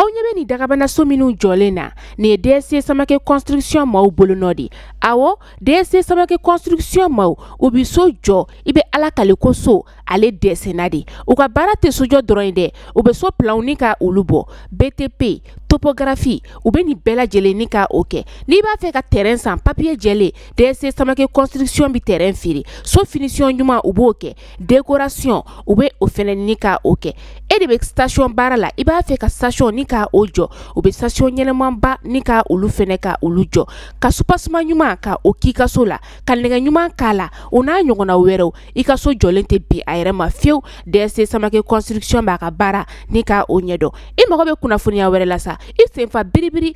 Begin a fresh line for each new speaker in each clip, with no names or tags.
aw ɲɛ bɛ nin dagabanaso minnu jɔlen na nin ye dsc samake construction maaw bolonɔ de awɔ dsc samake construction maaw u bi so jɔ i bɛ ala kali ko so ale dɛsɛnna de u ka baara tɛ sojɔ dɔrɔn ye dɛ u bɛ so planw ni ka olu bɔ btp topogarafi u bɛ nin bɛɛ lajɛlen ni ka o kɛ n'i b'a fɛ ka tɛrɛn san papiye jɛlen dsc samake construction bi tɛrɛn feere so finisiyɔn ɲuman u b'o kɛ dekorasiyɔn u bɛ o fana ni ka o kɛ e de bɛ stasiyɔn baara la i b'a fɛ ka stasiyɔn ni ka o jɔ u bɛ stasiyɔn ɲɛnamaba ni ka olu fana ka olu jɔ ka subasiman ɲuman ka o kɛ i ka so la ka nɛgɛ ɲuman k'a la o n'a ɲɔgɔnna wɛrɛ i ka so jɔlen tɛ bin a yɛrɛ ma fewu dsc samake construction b'a ka baara ni ka o ɲɛdɔn i mago bɛ kunnafoniya wɛrɛ la sa i senfa biribiri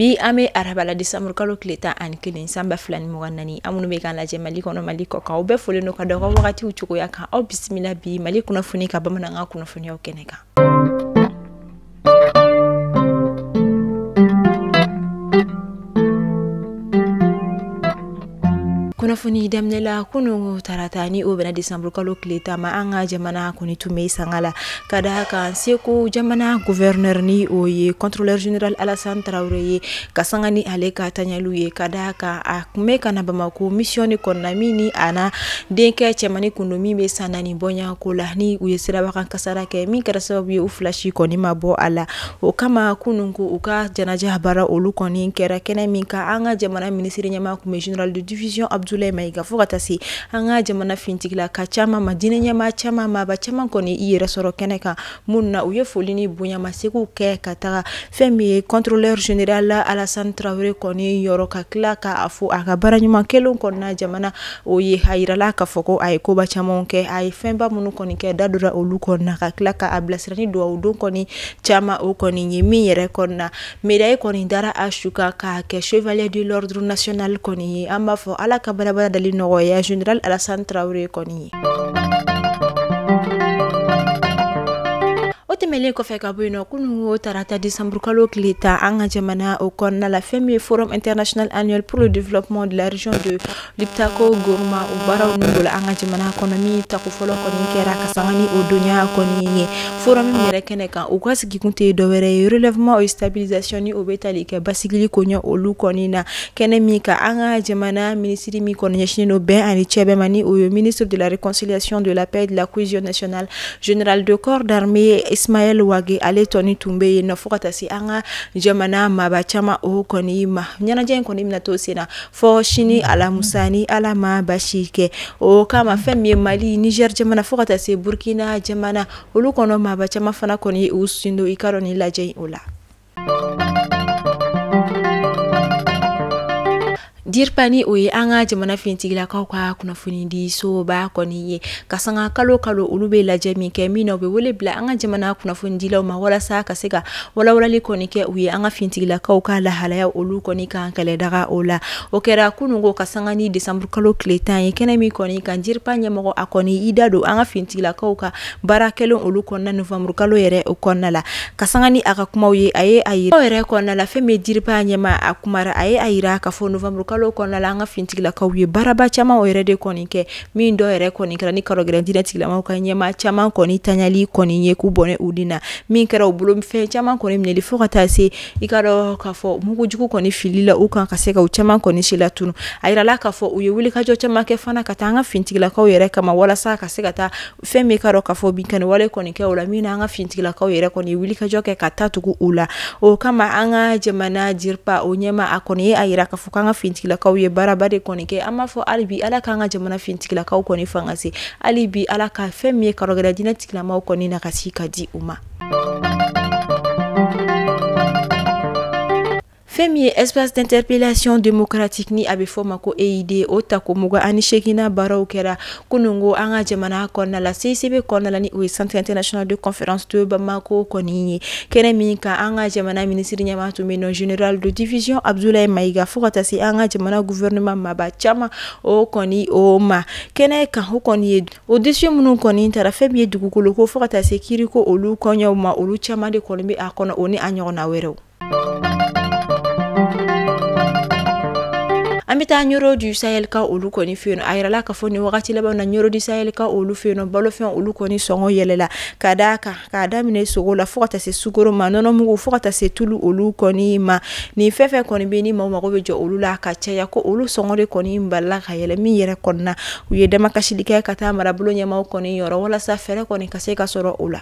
Bi an bɛ araba la desanburu kalo tile tan ani kelen san ba fila ni mugan ni naani aw minnu bɛ k'an lajɛ mali kɔnɔ mali kɔkan aw bɛɛ folen don ka da wagatiw cogoya kan aw bisimila bi mali kunnafoni ka bamanankan kunnafoniw kɛnɛ kan kunnafoni daminɛ la kunu tarata ni o bɛnna desanburu kalo tile tan ma an ka jamana kɔni tun bɛ sanga la ka da a kan segu jamana gouverneur ni o ye contrôleur général alassane tarawele ye ka sanga ni ale ka taɲaliw ye ka da a kan a tun bɛ ka na bamako mission de kɔnɔna min ni a n'a denkɛ cɛmani tun don min bɛ san naani bɔɲako la ni u ye siraba kan sara kɛ min kɛra sababu ye u fila si kɔni ma bɔ a la o kama kunun ko u ka janaja baara olu kɔni kɛra kɛnɛ min kan an ka jamana minisiri ɲɛmaa tun bɛ général de division abdoulaye maïga fɔ ka taa se an ka jamana finitigi la ka caman ma diinɛ ɲɛmaa caman maaba caman kɔni i yɛrɛ sɔrɔ kɛnɛ kan minnu na u ye foli ni bonya masegin kɛ ka taga fɛn min ye contrôleur général alassane tarawele kɔni yɔrɔ ka tila k'a fɔ a ka baara ɲuman kɛlen kɔnɔna jamana o ye a jirala k'a fɔ ko a ye koba caman kɛ a ye fɛnba minnu kɔni kɛ da dora olu kɔnɔna ka tila k'a bilasira ni dugawu don kɔni caman o kɔni ye min yɛrɛ kɔnɔna médaille kɔni dara a su kan k'a kɛ chevalier de l'ordre national kɔni ye an b'a fɔ ala ka balabala dali nɔgɔya général alassane tarawele kɔni ye o tɛmɛnlen kɔfɛ ka bɔ yen nɔ kunun o tarata desanburu kalo tile tan an ka jamana o kɔnɔna la fɛn min ye forum international annuel pour le développement de la région de Liptako gourma o baaraw min bolo an ka jamana kɔnɔ min tako fɔlɔ kɔni kɛra ka san ni o dɔnya kɔni ye forum in yɛrɛ kɛnɛ kan u ka sigikun tɛ dɔwɛrɛ ye relèvement et stabilisation ni o bɛ tali kɛ basigili koɲɛ olu kɔni na kɛnɛ min kan an ka jamana minisiri min kɔni ɲɛsinnen bɛn ani cɛbɛn ma ni o ye ministre de la réconciliation de la paix et de la cohésion nationale général de corps d'armée ismaël wagué ale kɔni tun bɛ yen fɔ ka taa se an ka jamana maaba caman o kɔni ma ɲɛnajɛ in kɔni minɛ na to sen na fo sini alamusa ni ala ma basi kɛ o kama fɛn min ye mali nizɛri jamana fo ka taa se burukina jamana olu kɔnɔ maaba caman fana kɔni u sin don i ka dɔn ni lajɛ o la dirpa ni o ye an ka jamana fintigilakaw ka kunnafonidisoba kɔni ye ka sanga kalo kalo olu bɛ lajɛ min kɛ min na u bɛ wele bila an ka jamana kunnafonidilaw ma walasa ka se ka walawalali kɔni kɛ u ye an ka fintigilakaw ka lahalaya olu kɔni kan kɛlɛdaga o la o kɛra kunun ko ka sanga ni desanburukalo tile tan ye kɛnɛ min kɔni kan dirpa ɲɛmɔgɔ a kɔni i da don an ka fintigilakaw ka baara kɛlen olu kɔnɔna nowanburukalo yɛrɛ o kɔnɔna la ka sanga ni a ka kuma ye a ye a ye aw yɛrɛ kɔnɔna la fɛn min ye dirpa ɲɛmaa a kumara a ye a jira k'a fɔ nowanburukalo kɔnɔna la an ka fintigilakaw ye baaraba caman yɛrɛ de kɔni kɛ min dɔw yɛrɛ kɔni kɛra ni karɔgɛlɛn diinɛ tigilamaw ka ɲɛmaa caman kɔni tali kɔni ye k'u bɔnɛ u ni na min kɛra u bolofɛn caman kɔni minɛli fo ka taa se i ka dɔn k'a fɔ mugujugu kɔni filila u kan ka se ka u caman kɔni silatunun a jirala k'a fɔ u ye wulikajɔ caman kɛ fana ka taa an ka fintigilakaw yɛrɛ kama walasa ka se ka taa fɛn min ka dɔn k'a fɔ binkani wale kɔni kɛ u la min na an ka fintigilakaw yɛrɛ kɔni wulikajɔ kɛ ka taa tugu u la o kama an ka jamana dirpa o ɲɛmaa a kɔni a jira k'a fɔ k'an ka fintigilakaw ye baaraba de kɔni kɛ an b'a fɔ hali bi ala k'an ka jamana fintigilakaw kɔni fanga se hali bi ala ka fɛn min ye karɔgɛlɛn diinɛ tigilamaw kɔni nagasi ka di u ma fɛn min ye espace d'interpellation démocratique ni a bɛ fɔ ma ko EID o tako mugan ani seeginnan baaraw kɛra kunun ko an ka jamana kɔnɔna la CICB kɔnɔna la ni o ye centre international de conférence de bamako kɔni ye kɛnɛ min kan an ka jamana minisiri ɲɛmaa tun bɛ n'o général de division abdoulaye maïga fo ka taa se an ka jamana gouvernement maaba caman o kɔni o ma kɛnɛ kan o kɔni ye o dossier minnu kɔni taara fɛn min ye dugukoloko fo ka taa se kiiriko olu kɔɲɔw ma olu caman de kɔni bɛ a kɔnɔ o ni a ɲɔgɔnna wɛrɛw an bɛ taa ɲoro du sahel ka olu kɔni fɛ yen a yirala k'a fɔ nin wagati laban na ɲoro du sahel ka olu fɛ yen balofɛn olu kɔni sɔngɔ yɛlɛla ka d'a kan k'a daminɛ sogo la fo ka taa se sukoro ma nɔnɔmugu fo ka taa se tulu olu kɔni ma nin fɛn fɛn kɔni bɛ ni maaw mago bɛ jɔ olu la ka caya ko olu sɔngɔ de kɔni balila ka yɛlɛ min yɛrɛ kɔnɔna u ye damakasili kɛ ka taa marabolo ɲɛmaaw kɔni yɔrɔ walasa fɛɛrɛ kɔni ka se ka sɔrɔ o la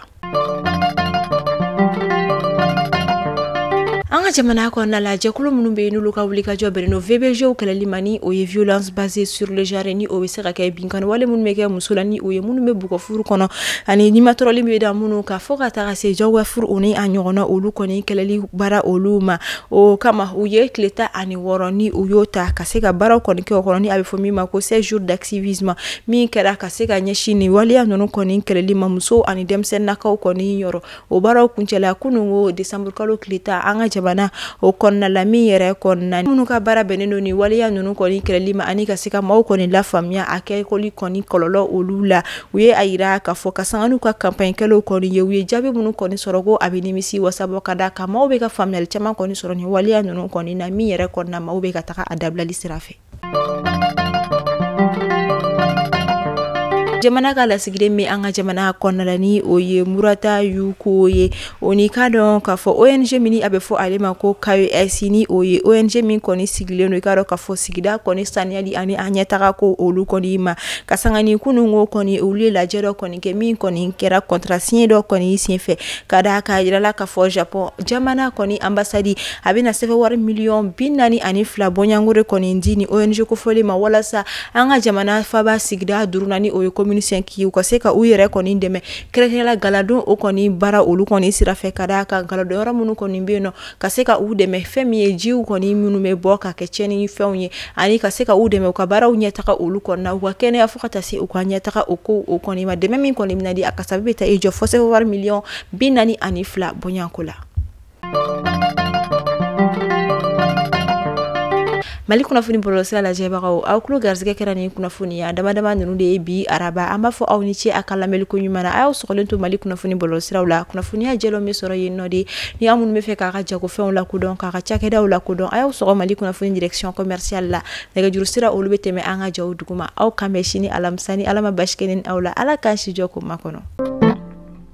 an ka jamana kɔnɔna la jɛkulu minnu bɛ yen n'olu ka wulikajɔ bɛnnen don VBGw kɛlɛli ma ni o ye violence basée sur le genre ni o bɛ se ka kɛ binkani wale minnu bɛ kɛ muso la ni o ye minnu bɛ bugɔ furu kɔnɔ ani nimatɔrɔli bɛ da minnu kan fo ka taga se jagoya furu o ni a ɲɔgɔnna olu kɔni kɛlɛli baara olu ma o kama u ye tile tan ani wɔɔrɔ ni u y'o ta ka se ka baaraw kɔni kɛ o kɔnɔ ni a bɛ fɔ min ma ko 16 jours d'activisme min kɛra ka se ka ɲɛsin nin waleya ninnu kɔni kɛlɛli ma muso ani denmisɛnninnakaw kɔni yɔrɔ o baaraw kuncɛla kunun ko desanburukalo tile tan an ka jamana o kɔnɔna la min yɛrɛ kɔnɔna minnu ka baara bɛnnen don ni waleya ninnu kɔni kɛlɛli ma ani ka se ka maaw kɔni lafaamuya a kɛkɔli kɔni kɔlɔlɔ olu la u ye a jira k'a fɔ ka sanga n'u ka campagne kɛlaw kɔni ye u ye jaabi minnu kɔni sɔrɔ ko a bɛ nimisiwasa bɔ ka d'a kan maaw bɛ ka faamuyali caman kɔni sɔrɔ ni waleya ninnu kɔni na min yɛrɛ kɔnɔna maaw bɛ ka taa a dabilali sira fɛ jamana ka lasigiden min bɛ an ka jamana kɔnɔna la ni o ye murata yuko ye o ni ka dɔn k'a fɔ ong min a bɛ fɔ ale ma ko kaes ni o ye ong min kɔni sigilen don i k'a dɔn k'a fɔ sigida kɔni saniyali ani a ɲɛtaga ko olu kɔni ma ka sanga ni kunun ko kɔni olu ye lajɛ dɔ kɔni kɛ min kɔni kɛra contrat signé dɔ kɔni senfɛ ka da a kan a jirala k'a fɔ japɔn jamana kɔni anbasadi a bɛna sefawari miliyɔn bi naani ani fila bɔɲɔgɔnko kɔni di ni ong kofɔlen ma walasa an ka jamana faba sigida duurunan ni o ye commune cinq k'u ka se ka u yɛrɛ kɔni dɛmɛ kɛrɛnkɛrɛnna galadon o kɔni baara olu kɔni sira fɛ ka d'a kan galadon yɔrɔ minnu kɔni bɛ yen nɔ ka se ka u dɛmɛ fɛn min ye jiw kɔni minnu bɛ bɔ ka kɛ tiɲɛnifɛnw ye ani ka se ka u dɛmɛ u ka baaraw ɲɛtaga olu kɔnɔna u ka kɛnɛya fo ka taa se u ka ɲɛtaga o ko o kɔni ma dɛmɛ min kɔni bɛna di a kasabi bɛ taa i jɔ fo sefawari miliyɔn bi naani ani fila bɔɲɔgɔnko la mali kunnafoni bɔlɔlɔsira lajɛbagaw aw tulo garisɛgɛ kɛra ni kunnafoniya damadama ninnu de ye bi araba an b'a fɔ aw ni ce a ka lamɛnliko ɲuman na a y'aw sɔgɔlen to mali kunnafoni bɔlɔlɔsiraw la kunnafoniya jɛlenw bɛ sɔrɔ yen nɔ de ni aw minnu bɛ fɛ k'a ka jagofɛnw lakodɔn k'a ka cakɛdaw lakodɔn a y'aw sɔgɔ mali kunnafoni direction commerciale la nɛgɛjuru sira olu bɛ tɛmɛ an ka jaw duguma aw k'an bɛn sini alamisa ni ala ma baasi kɛ ne ni aw la ala k'an si jɔ k'o makɔnɔ